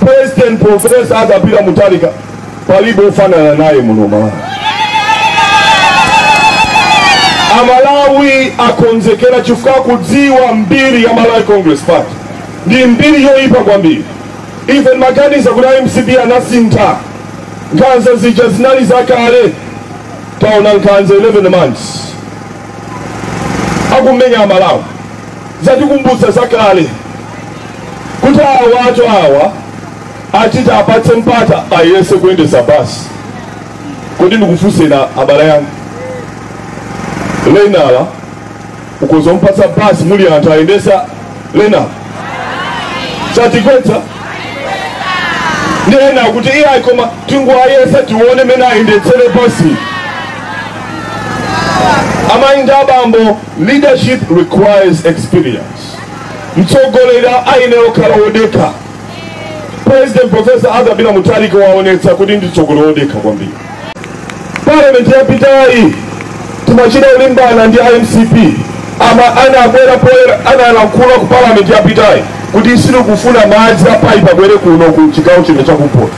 President Profesa Arthur Peter Mutharika palibe ofanana naye muno Malawi. Amalawi akonzekera chifukwa kudziwa mbiri ya Malawi Congress Party ndi mbiri yoyipa kwambiri. Ife timaganiza kuti a MCP anasintha nkhanza zija zinali zakale, taona nkhanza 11 months akumenya Amalawi zatikumbutsa zakale kuti awatu awa ati tiwapatse mpata ayese kuyendesa basi kodi ndikufunseni abale anga learner ukhoza mpatsa basi muli anthu ayendesa learner satigwetsa ndiye ena akuti iyayi koma tingoayesa tione mene ayendetsere basi amayi ndi abambo leadership requires experience mtsogoleri ayenera kukhala wodekha president profesa Arthur Peter Mutharika waonetsa kuti ndi mtsogoleri wodekha kwambiri parliament yapitayi timachita kulimbana ndi mcp ama anabwera poyera analankhula ku parliament yapitayi kuti sitikufuna madzi apaipi abwere kuno ku chigawo chino chakumpoto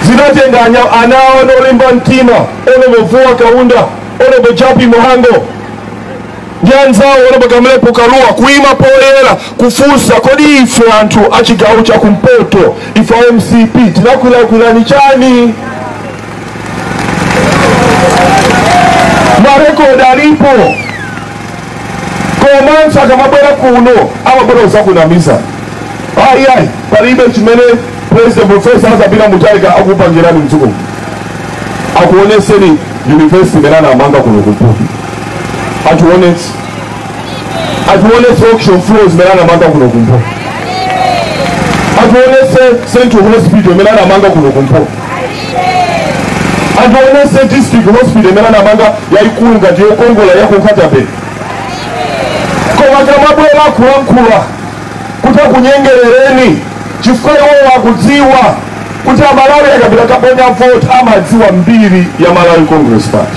zinatenga anya- ana awo olimba mtima Honorable Vuwa Kaunda Honorable Jappie Mhango ndi anzawo Honorable Kamlepo Kalua kuima poyera kufunsa kodi ife anthu a chigawo cha kumpoto ife a mcp tinakulakwirani chani marekodi alipo komanso akamabwera kuno amabwera kuzakunamizani ayi palibe chimene president profesa Arthur Peter Mutharika akupangirani mdziko akuoneseni university imene anamanga kuno kumpoto atione atiwonetse auction floors imene anamanga kuno kumpoto atiwonetse central hospital imene anamanga kuno kumpoto atiwonetse district hospital imene anamanga yayikulu ngati yokongola ya ku Nkhata Bay koma akamabwera kulankhula kuti akunyengerereni chifukwa iwowo akudziwa kuti amalawi akapita kaponya vote amadziwa mbiri ya malawi congress party